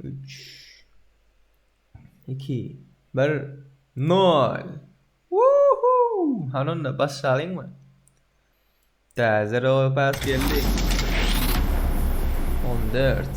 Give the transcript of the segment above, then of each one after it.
Üç. Iki. Bir. Nol. Wuhu! Hanonda başlalyň mı? Täze rowa pas geldi. On dört.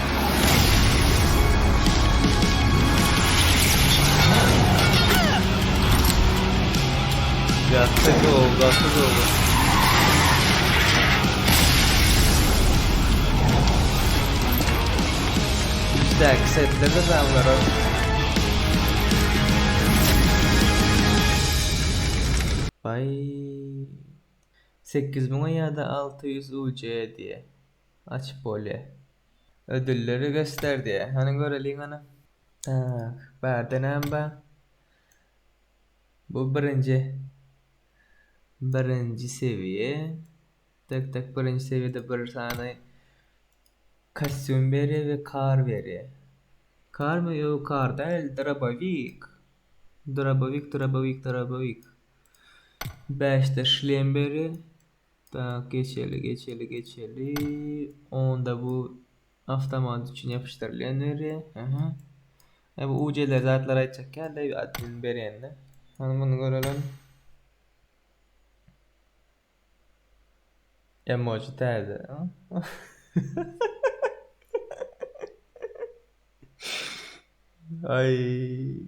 Bye. Sekiz müňe ýa-da alty ýüz UC diýýä. Açyp bolýa. Ödülleri göster diýýä. Hany göreliň ony. Tak, bärde näme bar? Bu birinji. Birinji sewiýe. Tak tak birinji sewiýede bir sany kostýum berýä we kar berýä. Karmy ýo kar däl drabowik. Drabowik drabowik drabowik. Bäşde şlem berýä. Tak geçeli geçeli geçeli. Onda bu avtomat üçin yapıştyrylýan ýeri. Aha. E bu uceler zatlar aýtjak ýa-da admin berende. Hany muny görelen. Emoji täze. Ay.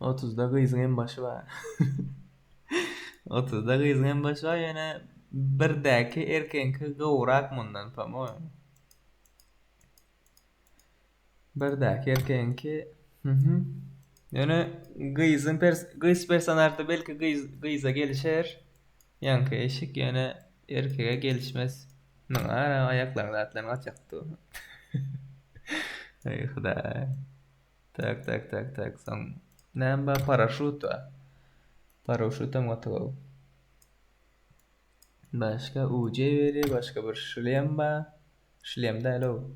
Otuzda gyzyň hem başy bar. Otuzda gyzyň hem başy bar ýöne birdäki erkegiňki gowrak mundan pomoýemy. Birdäki erkegiňki mhm. Ýöne gyzyň pers gyz personažda belki gyz gyza gelişer. Ýaňky eşik ýöne erkege gelişmez. Muňa ara aýaklaryň zatlaryny gaçakdy. Aý hudaý. Tak tak tak tak soň näme bar paraşut bar. Paraşut hem gaty gowy. Başga UC beri başga bir şlem bar. Şlem däl o.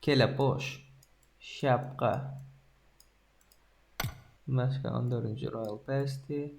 Kelepoş. Şapka. Başga 14-nji Royal Pass-di.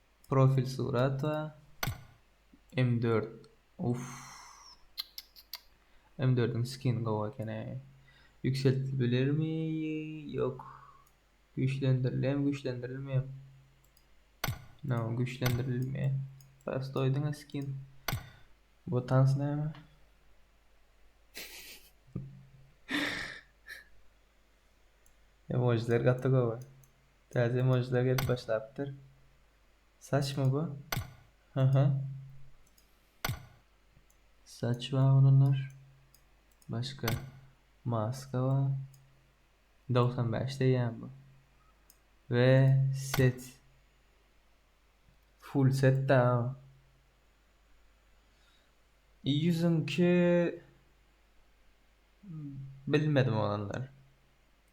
Profil surata M dört uff M dördüň skin gowy ekeni Ýükseltibilermi ýok Güýçlendirilem güýçlendirilmem No güýçlendirilme Prostoý diňe skin Bu tans näme Emojiler gaty gowy. Täze emojiler gelip başlapdyr. Saçmy bu? Haha. Saç bar olanlar. Başka maska bar. 95 deýän bu. Ve set. Full set da. Yüzünki bilmedim olanlar.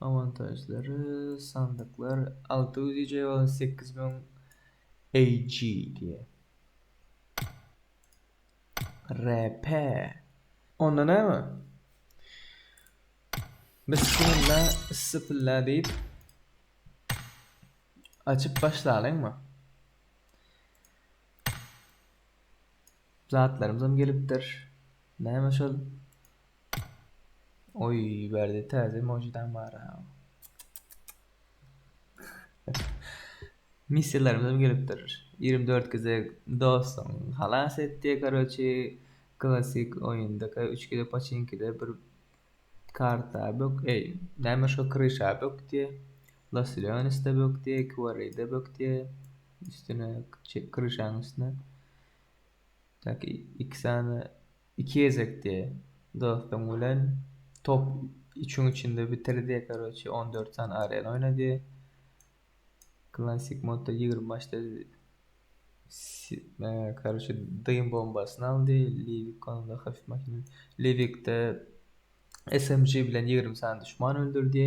Awantažlary, sandyklar alty ýüz EJ bolan sekiz müň EJ diýýär. RP. Onda näme? Bismilla issipilla diýip açyp başlalyňmy? Zatlarymyzam gelipdir. Näme şol? Oý, bärde täze emoji-dam bar-a. Missiýalarymyzam gelipdir. Ýigrimi dört gezek dostuňy halas et diýe, karoçi, klassyk oýundaka üç gezek paçinkide bir karta bök, eý, näme şo kryşa bök diýe, Los Leonesde bök diýe, Kwarryda bök diýe, üstüne, kryşaň üstüne. Tak iki sany iki gezekdi dostuň bilen top üçüň içinde bitirdi karoçi on dört sany arena oýnady klasik modda ýigrimi başda karoçi dym bombasyny aldy liwik onda hafif makina liwikde smg bilen ýigrimi sany duşman öldürdi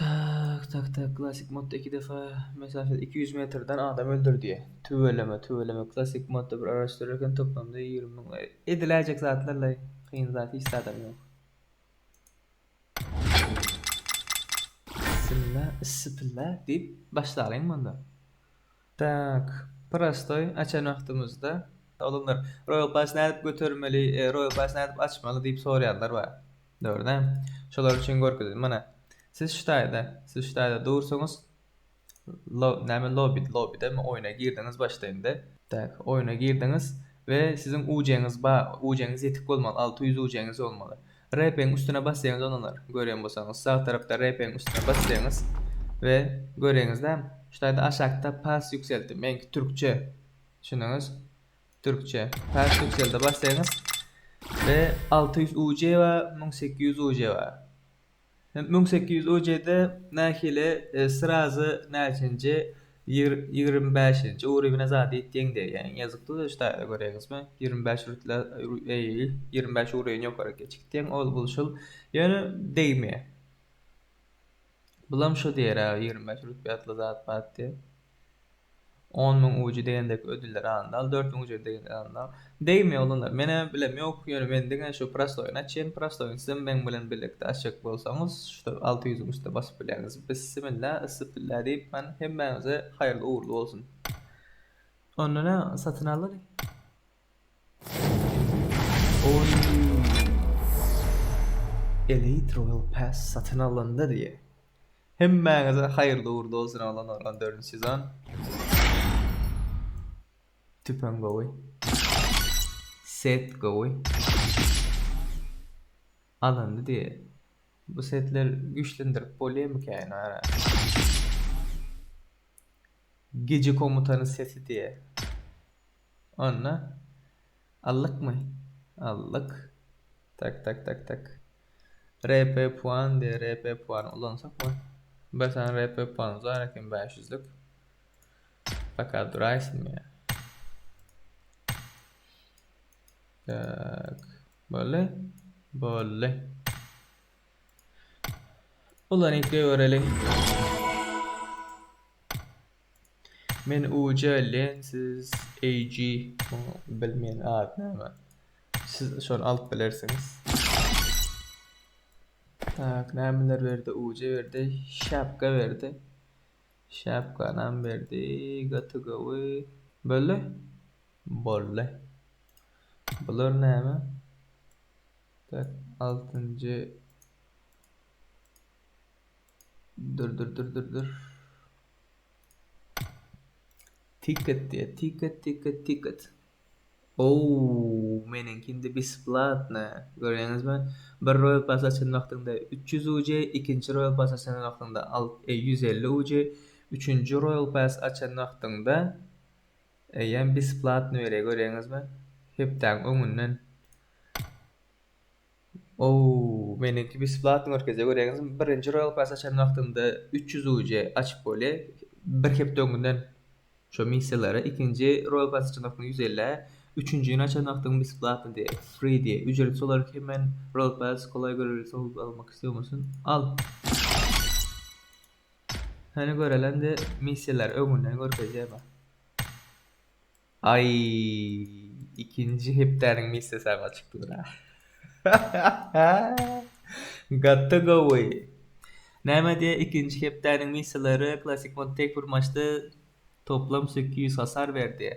Tak tak tak klassyk modda iki defa mesafede iki ýüz metrden adam öldürdiýä tüweleme tüweleme klassyk modda bir araşdyrarken toplamda ýigrimi müň ediläýjek zatlarlaý kyn zat hiç zadam ýok Bissimla issipilla diýip başlalyň munda. Tak, prostoý açan wagtymyzda oglanlar, Royal Pass nädip götermeli, Royal Pass nädip açmaly diýip soraýanlar bar. Dogryda? Şolar üçin görkezeli. Mana, siz şu taýda, siz şu taýda dursuňyz. Lo, näme lobby, lobbydamy, oýna girdiňiz başda indi. Tak, oýna girdiňiz we siziň UC-ňiz bar, UC-ňiz ýetik bolmaly, alty ýüz UC-ňiz bolmaly. RP-iň üstüne basýaňyz onalar, görýän bolsaňyz, sag tarapda RP-iň üstüne basýaňyz we göreňizda, şu taýda aşakda pas ýükseldi, meňki türkçe, düşündiňiz? Türkçe, pas ýükselde basýaňyz we alty ýüz UJ bar, müň sekiz ýüz UJ bar. Müň sekiz ýüz ojede nähili srazy näçenji ýigrimi bäşinji urywne zady itýeň däýýäň ýazyk duz öç taýda göreňizmi ýigrimi bäş rütle eý ýigrimi bäş urywny ýokary geç gitýeň ol bul şul ýöne degmeýä bulam şo diýer-ä ýigrimi bäş rütbe ýatla zat bat diýip. On müň uji degen dek ödüller alyndy al dört müň uji degen dek alyndy al degme oglanlar mene bilem ýok ýöne men diňe şu prostoýyny açýan prostoýyny sizem meň bilen birlikde açjak bolsaňyz şu alty ýüzüň üstüne basyp bilýäňiz bissimilla yssipilla diýip men hemmäňize haýyrly ugurly bolsun. Onda näme satyn aldyny. Oý. Elite Royal Pass satyn alyndy diýe. Hemmäňize haýyrly ugurly bolsun Alan Alan dördünji sezon. Tüpeň gowy. Set gowy. Alyndy diýe. Bu setler güýçlendirip bolýamyka ýene ara. Gije komutany seti diýe. Onda allykmy? Allyk. Tak tak tak tak. RP puan diýe RP puany ulansakmy? Bir sany RP puan uzar eken 500-lük. Baka duraýsyn ýa. Tak. Bolly. Bolly. Ulanyp görelim. Men uje lensiz AG bilmeýän ady näme. Siz şony alyp bilersiňiz. Tak nämeler berdi uje berdi şapka berdi. Şapkanam berdi gaty gowy. Bolly. Bolly. Bular näme? Tak altynjy Dur dur dur dur dur. Ticket diýe. Ticket, ticket, ticket. Ow, meniňki indi besplatny. Görýäňizmi? Bir Royal Pass açan wagtyňda 300 UJ, ikinji Royal Pass açan wagtyňda 150 UJ, üçünji Royal Pass açan wagtyňda eýýäm besplatny berýär. Görýäňizmi? Hepdäň öňünden. Oow meniňki besplatny görkezýär göreňiz birinji royal pass açan wagtyňda üç ýüz UC açyp bolýa bir hepde öňünden şo missiýalara ikinji royal pass açan wagtyňda ýüz elli üçünjini açan wagtyň besplatny diýe free diýe ücretsiz olaryk hemen royal pass kolaý göreliýse howp almak isleýomyşsyn al hany görelende missiýalar öňünden görkezýär bax. Aý ikinji hepdäniň missesy aga çykdy bira. Gaty gowy. Näme diýýä ikinji hepdäniň misselary klassyk mod tek bir maçda toplam sekiz ýüz hasar berdi.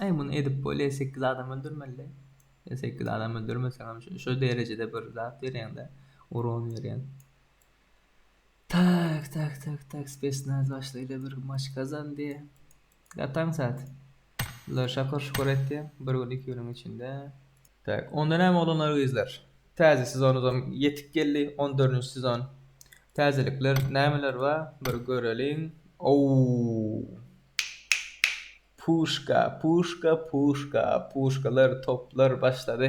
Aý muny edip bolýa sekiz adam öldürmeli. E, sekiz adam öldürmeseňem şu derejede bir zat berýäňde uron berýän. Tak tak tak tak spesnaz başlyda bir maç gazandy. Gataň sat. Bular şakur şukur etdi. Bir gün iki günüň içinde. Tak onda näme oglanlar gyzlar. Täze sezonuzam ýetip geldi on dördünji sezon. Täzelikler nämeler bar bir göreliň. Ouu. Puşka puşka puşka puşkalar toplar başlady.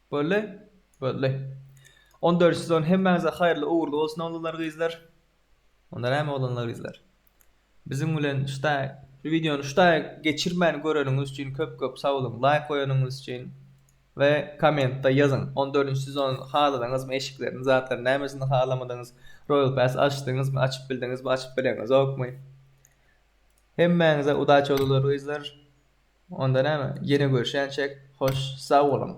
Boldy? Boldy. On dört sezon hemmäňize haýyrly ugurly bolsun oglanlar gyzlar. Onda näme oglanlar gyzlar. Biziň bilen şda şu wideony şda geçirmän göreniňiz üçin köp köp sag boluň laýk goýanyňyz üçin we kommentda ýazyň on dördünji sezony haladyňyzmy eşiklerini zatlaryny nämesini halamadyňyz royal pass açdyňyzmy açyp bildiňizmi açyp bileňizokmy hemmäňize udaçi oglanlar gyzlar. Onda näme, ýene görşänçäk, hoş, sag boluň!